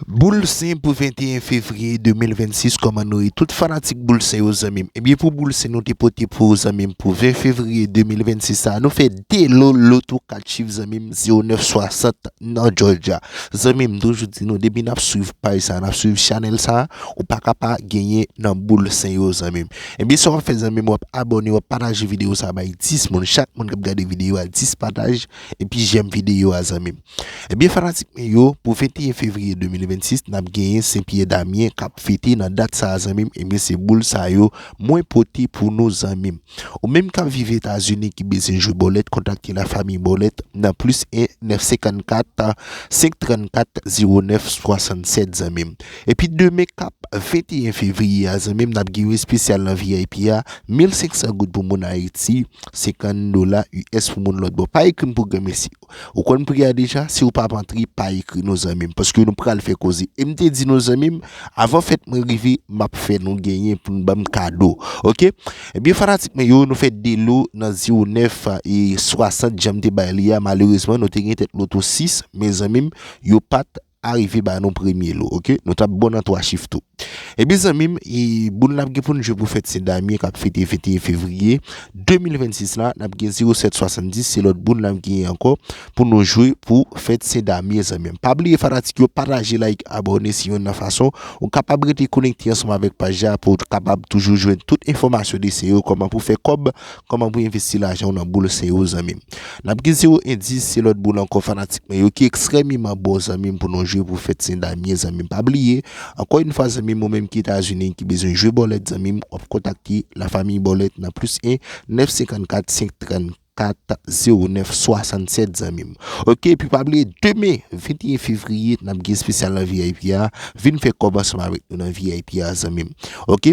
Boul sen pou 21 fevriye 2026 kòman nou ye tout fanatik boul sen yo zanmim ebyen pou boul sen nou te pote pou ou zanmim pou 20 fevriye 2026 sa nou fè 2 lo loto 4 chif zanmim 09 60 nan jòjya zanmim toujou di nou depi nap swiv paj sa nap swiv chanèl sa ou paka pa genyen nan boul sen yo zanmim ebyen sa wap fè zanmim wap abòne wap pataje videyo sa bay 10 moun chak moun kap gade videyo a 10 pataj epi jèm videyo a zanmim. Ebyen fanatik mwen yo pou 21 fevriye 2026 nap genyen sen pyè damyen kap fete nan dat sa zanmim ebyen se boul sa yo mwen pote pou nou zanmim ou menm kap viv etazini ki bezyen jwe bòlèt kontakte la famiy bòlèt nan plis 1 954 534 09 67 zanmim epi demen kap 21 fevriye a zanmim nap gen yon espesyal nan vip a 1500 goud pou moun ayiti 50 dola us pou moun lòt bò pa ekrim pou granmesi. Ou konn pri a deja si ou pap antre pa ekri non zanmim paske nou pral fè koze em te di nou zanmim avan fèt mwen rive map fè nou genyen pou nou banm kado ok ebyen fanatik mwen yo nou fè delo nan 09 e 60 janm te bay li a malerezman nou te gen tèt loto 6 men zanmim yo pat Arive ba nou premye lo ok. Nou tap bon nan 3 chif tou. Ebyen zanmim e boul nap gen poun jwe pou fèt sen Damyen kap fete 21 fevriye 2026 la nap gen 0770 se lòt boul nap genyen ankò pou nou jwe pou fèt sen Damyen zanmim. Pa bliye fanatik yo pataje like abòne se yonn nan fason ou kapab rete konekte ansanm avèk paj la pouw kapab toujou jwenn tout enfòmasyon desen yo kòman pou fè kòb Kòman pou envesti lajanw nan boul seyo zanmim nap gen zero endis se lòt boul ankò fanatik mwen yo ki ekstrèmiman bon zanmim pou nou jwe pou fèt sen damyen zanmim pa bliye ankò yn fwa zanmim ou menm ki etazini ki bezwen jwe bòlèt zanmim wap kontakte la famiy bòlèt nan plis 1 9 54 534 09 67 zanmim ok epi pa bliye demen 21 fevriye nap gen espesyal nan vip a vin fè kòb ansanm avèk nou nan vip a zanmim ok.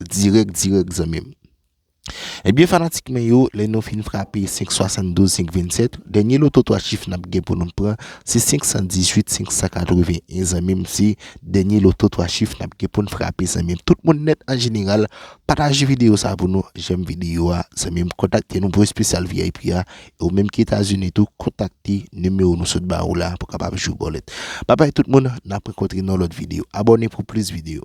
dirèk dirèk zanmim. Ebyen fanatik mwen yo lè nou fin frape 572 527 dènye loto 3 chif nap gen pou nou pran se 518 581 zanmim se dènye loto 3 chif nap gen poun frape zanmim tout moun nèt an jeneral pataje videyo sa pou nou jèm videyo a zanmim kontakte nou pou espesyal vip a e ou menm ki etazini tou kontakte nimewo nou sot ba ou la pou kapab jwe bòlèt babay tout moun nap rankontre nan lòt videyo abòne pou plis videyo.